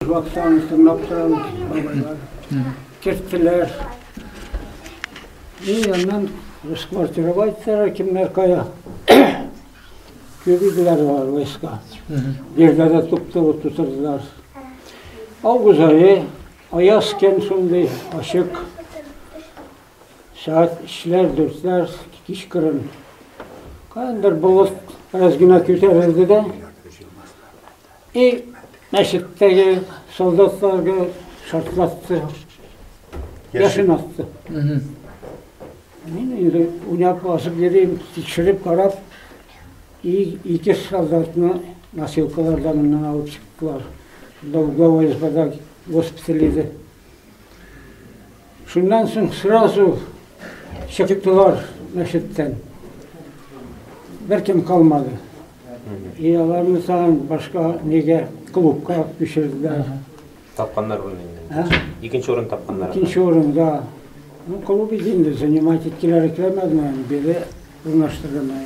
Вакцияне сынап торам, бабайлар керттеләр. И аннан расквартировать итсәләр, кемнәр кая. Кирделәр алар войска. Җирдә дә туп-туры тутырдылар. Август айы, аяз көн шундый, ачык. Сәгать өчләр, дүртләр, кичкырын. Каяндыр болыт бераз генә күтәрелде дә, И мәчеттәге солдатларга шартлатты, яшен атты. Мин инде уйнап басып йөрим, тикшереп карап, ике солдатны носилкаларда моннан алып чыктылар. Шунда угловой избада госпиталь иде. Шуннан соң сразу чыктылар мәчеттән. Беркем калмады. И аларны тагын башка нигә клубка алып күчерделәр. Тапканнар буны инде. Икенче урын тапканнар. Икенче урында. Ну, клуб инде занимать иткеләр икән, мәгълүм, бире урнаштырдылар.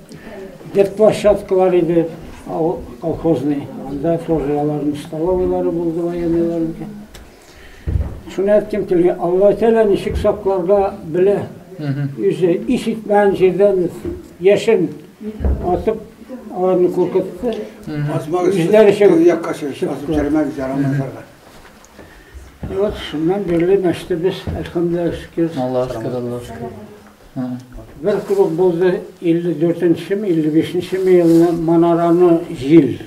Бер площадкалар иде, ал- колхозный. Анда тоже аларның столовыйлары булды, военныйларныкы. Шуны әйткем килгән, Алла Тәгалә ничек сакларга белә. Үзе ис итмәгән җирдән без яшен атып, аларны куркытты. Азмак Үзләре өчен чыгып- якка чыгып чыктылар. термәк ярамазларга. И вот шуннан бирле мәчетебез, әлхәмдүлилләһ шөкер. Аллаһ шөкер, Аллаһ шөкер. Бер клуб булды, 54 нчеме, 55 нчеме елны манараны җил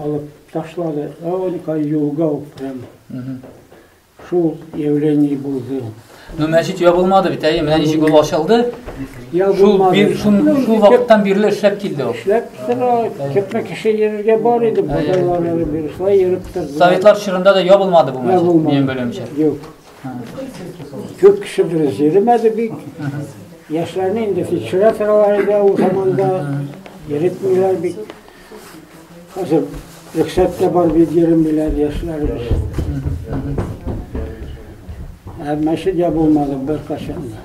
алып ташлады. Гаулика юлга ук прям. Шул явление булды. Ну, мәчет ябылмады бит, әйе, менә ничек ул ачылды. Шул бир, шул, шул вакыттан бирле эшләп килде ул. Эшләп тора, күпме кеше йөрергә бар иде, бозалар әле биршләй йөреп торды. Советлар чорында да ябылмады бу мәчет, минем белемчә. Юк. Күп кеше дөрес йөремәде бик. Яшьләрне инде фиксираторлар иде ул заманда. Йөретмиләр бик. Хәзер рөхсәт тә бар бит йөремиләр яшьләребез. Ә мәчет дә булмады беркайчан да.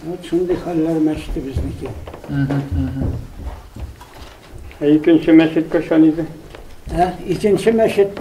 Вот шундый хәлләр мәчете безнеке. Ә икенче мәчет кайчан иде? Ә икенче мәчет